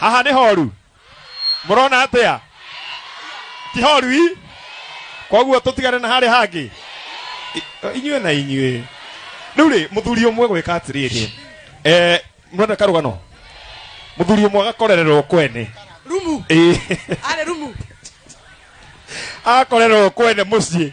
haha nĩ horu mũrona atĩa ti horu i koguo tũtigane na harĩa hangĩ I- inyuĩ na inyuĩ rĩu rĩ mũthuri ũmwe gwĩka atĩrĩrĩ eh, mũrona karũgano mũthuri ũmwe agakorererwo kwene rumu Ĩĩ. arĩ rumu akorerwo kwene mũciĩ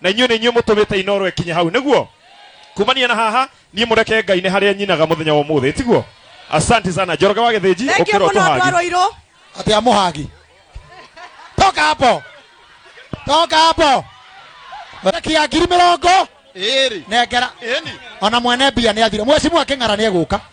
na inyuĩ nĩ inyuĩ mũtũmĩte inoro ĩkinye hau nĩguo kumania na haha niĩ mũreke ngai nĩ harĩa nyinaga mũthenya wa mũthĩ tiguo asanti sana njoroge wa gĩthĩnji Thank you ũkĩra mũno andũ a ũtũhangi Rũirũ. atä a må hangi toka hapo toka hapo reki ya ngiri mä rongo nengera ona mwene mbia nä athire mwecimu akä ng'ara nä egå ka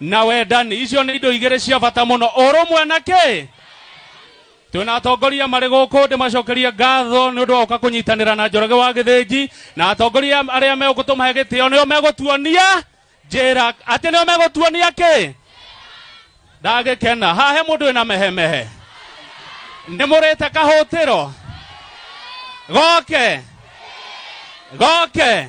na wendani icio nĩ indo igĩrĩ cia bata mũno ũrũmwe na kĩ twĩna atongoria marĩ gũkũ ndĩmacokerie ngatho nĩ ũndũ wa gũka kũnyitanĩra na njoroge wa gĩthĩnji na atongoria arĩa megũkũ tũmahe gĩtĩo nĩo megũtuonia njĩra atĩ nĩo megũtuonia kĩ ndagĩkena hahe mũndũ wĩna mehemehe nĩ mũrĩte kahũtĩro goke goke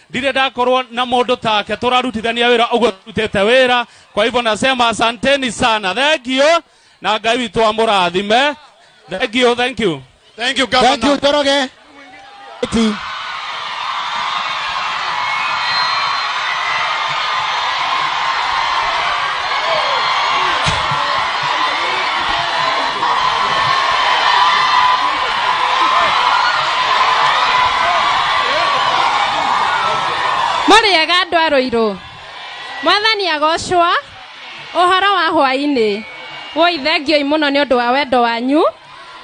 ndirĩ ndakorwo na mũndũ take tũrarutithania wĩra ũguo tũrutĩte wĩra kwa hivyo nasema asanteni sana thengio na ngai witũ amũrathime thengio thank you Thank you, Governor. Thank you, Njoroge. Eti. mũrĩega andũ a rũirũ mwathani agocwa ũhoro wa hwainĩ woi thengioi mũno nĩ ũndũ wa wendo wanyu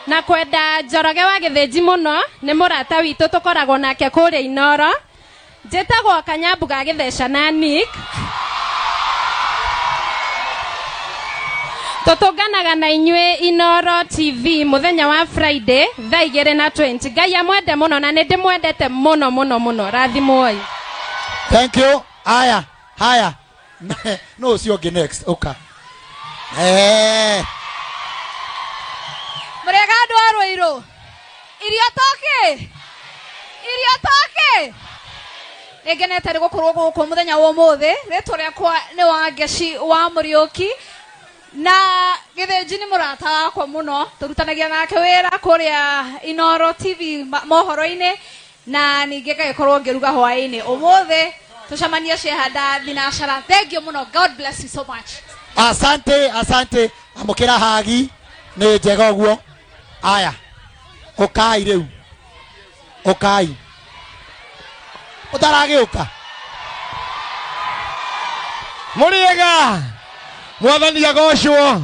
na kwenda njoroge wa gĩthĩnji mũno nĩ mũrata witũ tũkoragwo nake kũrĩa inoro Njĩtagwo Kanyambu ga Gĩtheca na Nick. Tũtũnganaga na inyuĩ Inoro TV mũthenya wa Friday thaa igĩrĩ na 20. Ngai amwende mũno na nĩndĩmwendete mũno mũno mũno. Rathimwoi. Thank you. Haya, haya. Na- no ũcio ũngĩ next ũka Eh, mũrĩega andũ a rũirũ irio toki irio toki nĩ ngenete nĩ gũkorwo gũkũ mũthenya wa ũmũthĩ rĩtwa rĩakwa nĩ wa ngeci wa mũriũki na gĩthĩnji nĩ mũrata wakwa mũno tũrutanagia nake wĩra kũrĩa inoro tv ma- mohoro-inĩ na ningä ngagä korwo ngä ruga hwaä-inä å må thä tå cemanie ciehanda thinacara thengio må no god bless you so much asante asante amukira hagi ni njega guo aya ukai riu ukai utaragiuka mũrĩega mwathani agocwo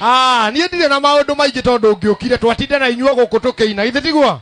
Ah, niĩ ndirĩ na maũndũ maingĩ tondũ ngĩũkire twatinde na inyuo gũkũ tũkĩina githĩ tiguo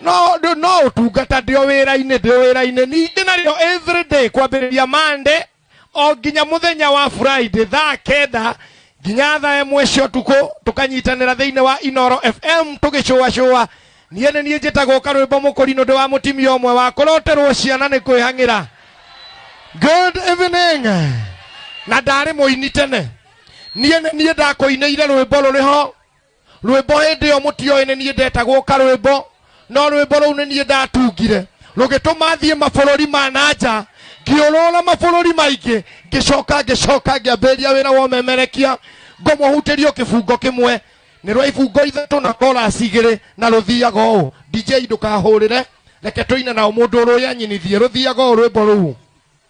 no ndũ- no ũtungata ndĩ o wĩra-inĩ ndĩ o wĩra-inĩ ningĩ narĩo every day kwambĩrĩria mande o nginya mũthenya wa friday thaa kenda nginya thaa ĩmwe cia ũtukũ tũkanyitanĩra thĩinĩ wa inoro fm tũgĩcũacũa niĩ nĩ niĩ njĩtagwo karwĩmbo mũkũrinũ ndĩ wa mũtimia ũmwe wa kũroterwo ciana nĩ kwĩhang'ĩra good evening na ndarĩ mũini tene niĩ nĩ niĩ ndakũinĩire rwĩmbo rũrĩ ho rwĩmbo hĩndĩ ĩyo mũtioĩ nĩ niĩ ndetagwo karwĩmbo no rwĩmbo rũu nĩ niĩ ndatungire rũgĩtũma thiĩ mabũrũri ma na nja ngĩũrũra mabũrũri maingĩ ngĩcoka ngĩcoka ngĩambĩrĩria wĩra wa ũmemerekia ngũmũhutĩrio kĩbungo kĩmwe nĩ rwa ibungo ithatũ na korasi igĩrĩ na rũthiaga ũũ dj ndũkahũrĩre reke tũine nao mũndũ ũrũya nyinithie rũthiaga ũũ rwĩmbo rũu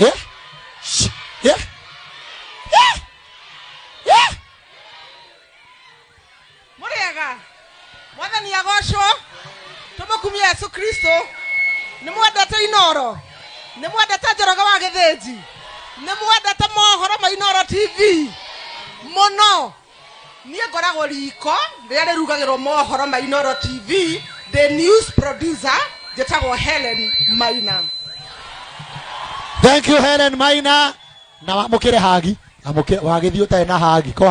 Eh? Sh- eh? Eh? Eh? mũrĩega mwathani agocwo tũmũkumia yesu kristo nĩ mwendete inoro nĩ mwendete njoroge wa gĩthĩnji nĩ mwendete mohoro ma inoro tv mũno niä ngoragwo riko rä rä a rä rugagä rwo mohoro ma inoro tv the news producer njä tagwo helen maina thank you helen maina na wamũkĩre hagi Amũkĩre- wagĩthiĩ ũtarĩ na hagi ko